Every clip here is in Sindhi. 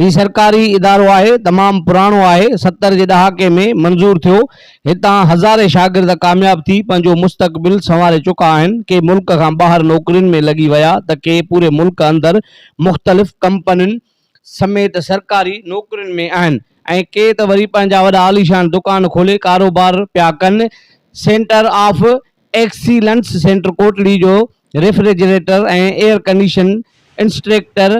هي سرڪاري ادارو آهي تمام پراڻو آهي ستر جي ڏهاڪي ۾ منظور ٿيو هتان هزارين شاگرد ڪامياب ٿي پنهنجو مستقبل سنواري چڪا آهن ڪي ملڪ کان ٻاهر نوڪرين ۾ لڳي ويا ته ڪي پوري ملڪ اندر مختلف ڪمپنين سميت سرڪاري نوڪرين ۾ آهن ۽ ڪي ته وري پنهنجا وڏا عاليشان دڪان کولي ڪاروبار پيا ڪن، centre of excellence centre Kotri جو refrigerator ۽ air condition instructor,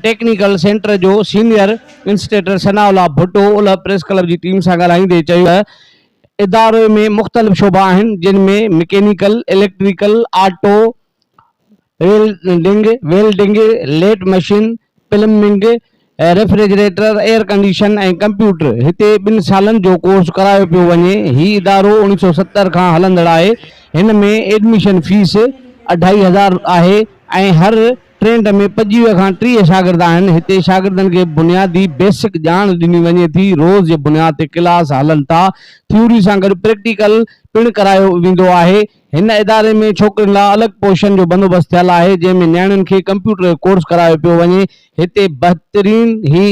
technical centre جو senior instructor Sanaullah Bhutto اولهه پريس ڪلب جي ٽيم سان ڳالهائيندي چيو ته اداري ۾ مختلف شعبا آهن جن ۾ mechanical, electrical, auto, welding, Welding، lathe machine, plumbing, refrigerator, air condition ۽ computer هتي ٻن سالن جو ڪورس ڪرايو پيو وڃي، هي ادارو اڻيهه سؤ ستر کان هلندڙ آهي، هن ۾ ايڊميشن فيس اڍائي هزار آهي ۽ هر ٽريڊ ۾ پنجويهه کان ٽيهه شاگرد آهن، هتي شاگردن کي بنيادي، Basic، ڄاڻ ڏني وڃي ٿي، روز جي بنياد تي ڪلاس هلن ٿا، ٿيوري سان گڏ پريڪٽيڪل پڻ ڪرايو ويندو آهي، هن اداري ۾ ڇوڪرين لاء الڳ پورشن جو بندوبست ٿيل آهي جنهن ۾ نياڻين کي ڪمپيوٽر جو ڪورس ڪرايو پيو وڃي هتي بهترين هي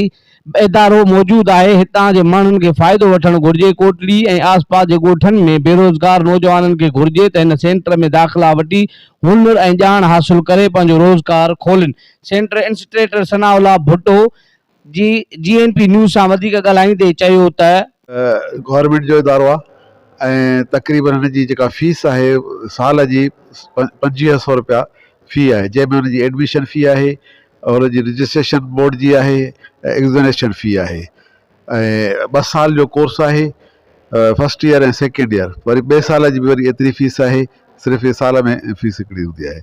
ادارو موجود آهي هتان جي ماڻهن کي فائدو وٺڻ گهرجي ڪوٽڙي ۽ آس پاس جي ڳوٺن ۾ بيروزگار نوجوانن کي گهرجي ته هن سينٽر ۾ داخلا وٺي هنر ۽ ڄاڻ حاصل ڪري پنهنجو روزگار کولن centre instructor Sanaullah Bhutto جي جي اين پي نيوز سان وڌيڪ ڳالهائيندي چيو ته. گورنمينٽ جو ادارو آهي ۽ تقريبن هن جي جيڪا فيس آهي سال جي پنجويهه سئو رپيا في آهي جنهن ۾ هن جي ايڊميشن في آهي هن جي رجسٽريشن بورڊ جي آهي ۽ ايگزنيشن في آهي ۽ ٻه سال جو ڪورس آهي فسٽ ايئر ۽ سيڪنڊ ايئر وري ٻئي سال جي به وري ايتري فيس آهي صرف هي سال ۾ فيس هڪڙي هوندي آهي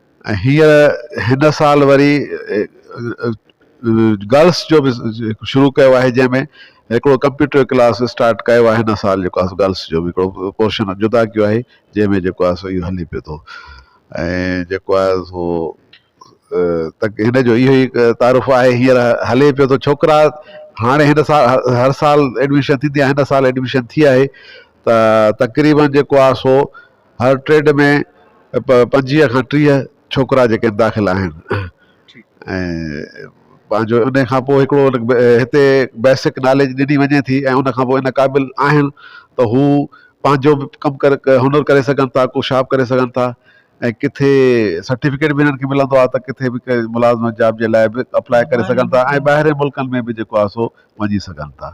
هينئر هن سال وري گرلس جو به شروع ڪيو آهي جنهن ۾ هڪڙو ڪمپيوٽر ڪلاس اسٽارٽ ڪيو آهي هن سال جيڪو آهي گرلس جو به هڪڙو پورشن جدا ڪيو آهي جنهن ۾ جيڪو آهي سو اهو هلي پيو ٿو ۽ جيڪو آهي سو هن جو اهو ئي تعارف آهي هينئر هلي پيو ٿو ڇوڪرا هاڻي هن سال هر سال ايڊميشن ٿيندي آهي هن سال ايڊميشن ٿي آهي ته تقريبن جيڪو آهي سو هر ٽريڊ ۾ پنجويهه کان ٽيهه ڇوڪرا جيڪي داخل آهن پنهنجو ان کان پوء هڪڙو هتي بيسڪ ناليج ڏني وڃي ٿي ۽ ان کان پوء ان قابل آهن ته هو پنهنجو به ڪم ڪري هنر ڪري سگهن ٿا ڪو شاپ ڪري سگهن ٿا ۽ ڪٿي سرٽيفڪيٽ به هنن کي ملندو آهي ته ڪٿي به ڪنهن ملازمت جاب جي لاء به اپلاء ڪري سگهن ٿا ۽ ٻاهرين ملڪن ۾ به جيڪو آهي سو وڃي سگهن ٿا